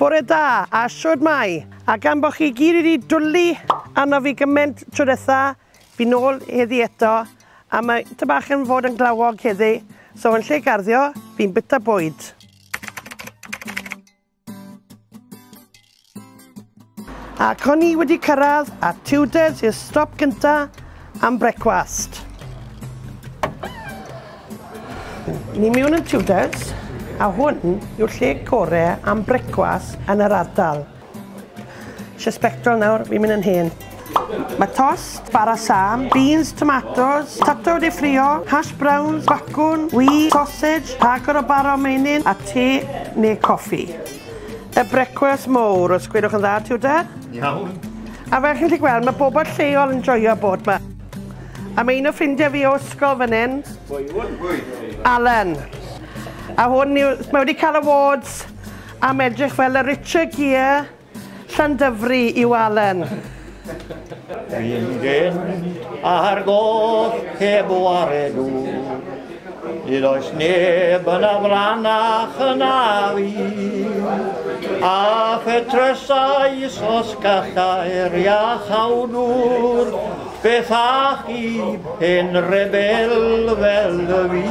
Bore da, a shwd mae? A gan bo chi gyd wedi dwli arno fi gyment tro detha, fi nôl heddi eto, a mae ty bach yn fod yn glawog heddi, so yn lle garddio, fi'n bita bwyd. Ac o'n i wedi cyrraedd a Tudors i'r stop gynta am brecwast. Ni mewn yn Tudors a hwn yw'r lle gore am brecwas yn yr ardal. Isio spectol nawr, fi'n mynd yn hen. Mae tost, bara sam, beans, tomatos, tato wedi ffrio, hash browns, bacwn, wi, sausage, rhagor o bara o meinyn a te neu coffi. Y brecwas mowr, os gwelwch yn dda, Tudor? Iawn. A fel chi'n gallu gweld, mae bobl lleol yn joio bod 'ma. Am un o ffrindiau fi o ysgol fan hyn. Alan. A hwn yw, mae wedi cael awards am edrych fel y Richard Gere Llandyfri yw Alan. Dwi'n gen ar goll heb waredu. Nid oes neb yn afranach yn afi, a phetresau os gallai'r iach awdwr, beth a chi, hen rebel fel y fi.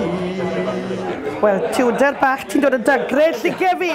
Wel, tiwder bach, ti'n dod o dagrau, llige fi!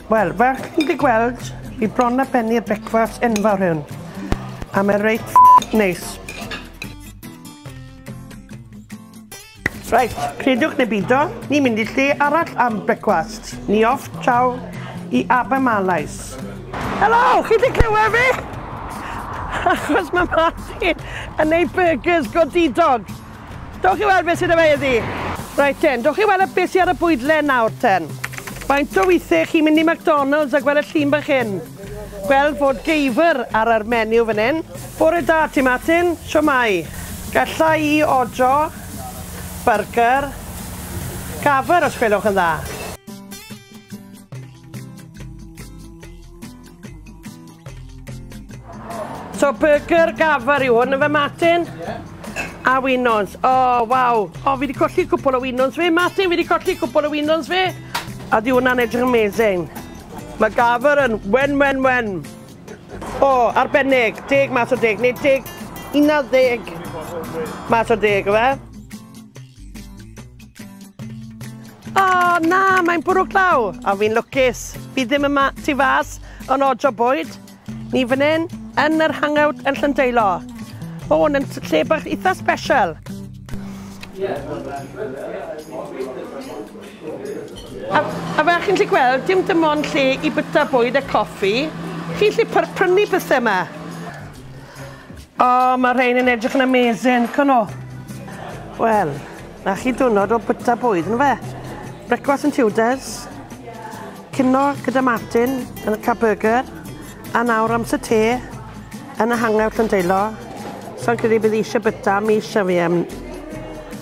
Wel, fel chi'n gallu gweld, fi bron a bennu y brecwast enfawr hwn. A mae reit neis. Reit, credwch neu bido, ni'n mynd i lle arall am brecwast. Ni off traw i Abermalais. Helo, chi wedi clywed fi? Achos mae Martin yn neud burgers godidog. Dowch i weld beth sydd 'da fe heddi. Reit ten, dowch i weld beth sydd ar y bwydlen nawr ten. Faint o weithiau chi'n mynd i McDonalds a gweld y llun bach hyn? Gweld fod geifr ar yr menu fan hyn. Bore da ti Martin, shwmae? Galla i odro byrgyr gafr os gwelwch yn dda? So burger gafr yw hwn yn fe Martin? Yeah. A winons. O, oh, waw. O, oh, fi wedi colli cwpl o winons fi. Martin, fi wedi colli cwpl o winons fi. A di hwnna'n edrych amazing. Mae gafr yn wen, wen, wen. O, oh, arbennig. Deg mas o deg. Neu deg, una deg. Mas o deg, fe? O, oh, na, mae'n bwrw glaw, a fi'n lwcus. Fi ddim yma tu fas, yn ojo bwyd. Ni fan hyn, yn yr hangout yn Llyndeilo. O, oh, yn lle bach eitha special. A, a fe chi'n lle gweld, dim dim ond lle i byta bwyd a coffi. Chi'n lle prynu pethau yma. O, mae rhein yn edrych yn amazing, can o? Wel, na chi dwrnod o byta bwyd, yn fe? Brecwas yn Tudors, cino gyda Martin yn y Caburger, a nawr amser te yn y hangar Llandeilo. So'n credu bydd eisiau byta mis am fi am